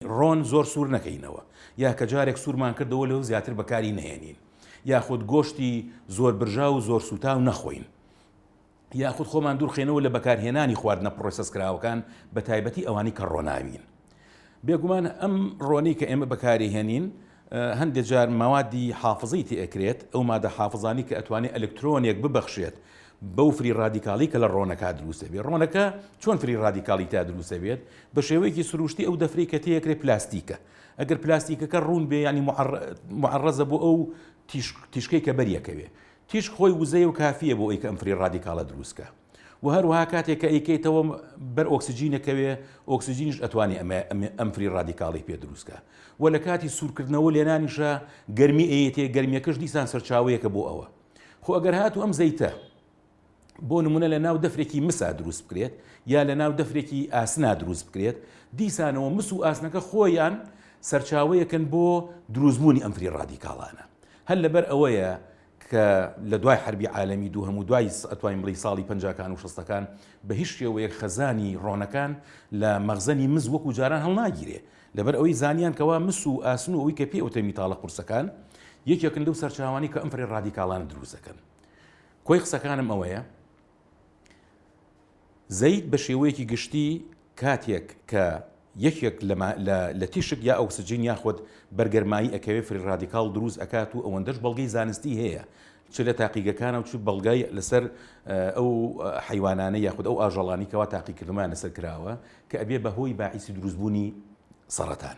ڕۆن زۆر سوور نەکەینەوە یا کە جارێک سوورمان کردەوە لەو زیاتر بەکاری نەهێنین یاخود گۆشتی زۆر برژاو و زۆر سووتاو نەخۆین یاخود خۆمان دوورخێنەوە لە بەکارهێنانی خواردنە پڕۆسس کراوەکان بە تایبەتی ئەوانی کە ڕۆناوین بێگومان ئەم ڕۆنی کە ئێمە بەکاری هێنین هەندێ جار مەوادی حافزەی تێ ئەکرێت، ئەو مادە حافزانەی کە ئەتوانێ ئەلکترۆنێک ببەخشێت بەو فری ڕادیکاڵی کە لە ڕۆنەکا دروست ئەبێ. ڕۆنەکە چۆن فری ڕادیکاڵی تیا دروست ئەبێت؟ بە شێوەیەکی سرووشتی ئەو دەفرەی کە تێ ئەکرێ پلاستیکە. ئەگەر پلاستیکەکە ڕوون بێ یانی موعەڕ موعەڕەزە بۆ ئەو تیشک تیشکەی کە بەری ئەکەوێ. تیشک خۆی وزەیە و کافییە بۆ ئەوی کە ئەم فری ڕادیکاڵە دروست کا. و هەروەها کاتێک کە ئەیکەیتەوە بەر ئۆکسجینەکەوێ ئۆکسجینش ئەتوانێ ئەم فری ڕادیکاڵی پێ دروستکە و لە کاتی سوورکردنەوە لێنانیشە گەرمی ئەیەتێ گەرمیەکەش دیسان سەرچاوەیەکە بۆ ئەوە خۆ ئەگەر هاتو ئەم زەیتە بۆ نمونە لە ناو دەفرێکی مسا دروست بکرێت یا لە ناو دەفرێکی ئاسنا دروست بکرێت دیسانەوە مس و ئاسنەکە خۆیان سەرچاوەیەکن بۆ دروستبوونی ئەمفری ڕادیکاڵانە هەر لەبەر ئەوەیە کە لە دوای حەربی عالەمی دووهەم و دوای ئەتوانین بڵێی ساڵی پەنجاکان و شەستەکان بە هیچ شێوەیەک خەزانی ڕۆنەکان لە مەغزەنی مس وەکو جاران هەڵناگیرێ لەبەر ئەوەی زانیان کەوا مس و ئاسن و ئەوی کە پێ ئەوتێ میتاڵە قورسەکان یەکێکن لەو سەرچاوانەی کە ئەم فەرێ ڕادیکاڵانە دروست دەکەن کۆی قسەکانم ئەوەیە زەیت بە شێوەیەکی گشتی کاتێک کە یەکێک لە تیشک یا ئۆکسجین یاخود بەرگەرمایی ئەکەوێ فری ڕادیکاڵ دروست ئەکات و ئەوەندەش بەڵگەی زانستی هەیە چ لە تاقیگەکانە و چ بەڵگای لەسەر ئەو حیوانانە یاخود ئەو ئاژەڵانی کەوا تاقیکردمان لەسەر کراوە کە ئەبێ بەهۆی باعیسی دروستبوونی سەڕەتان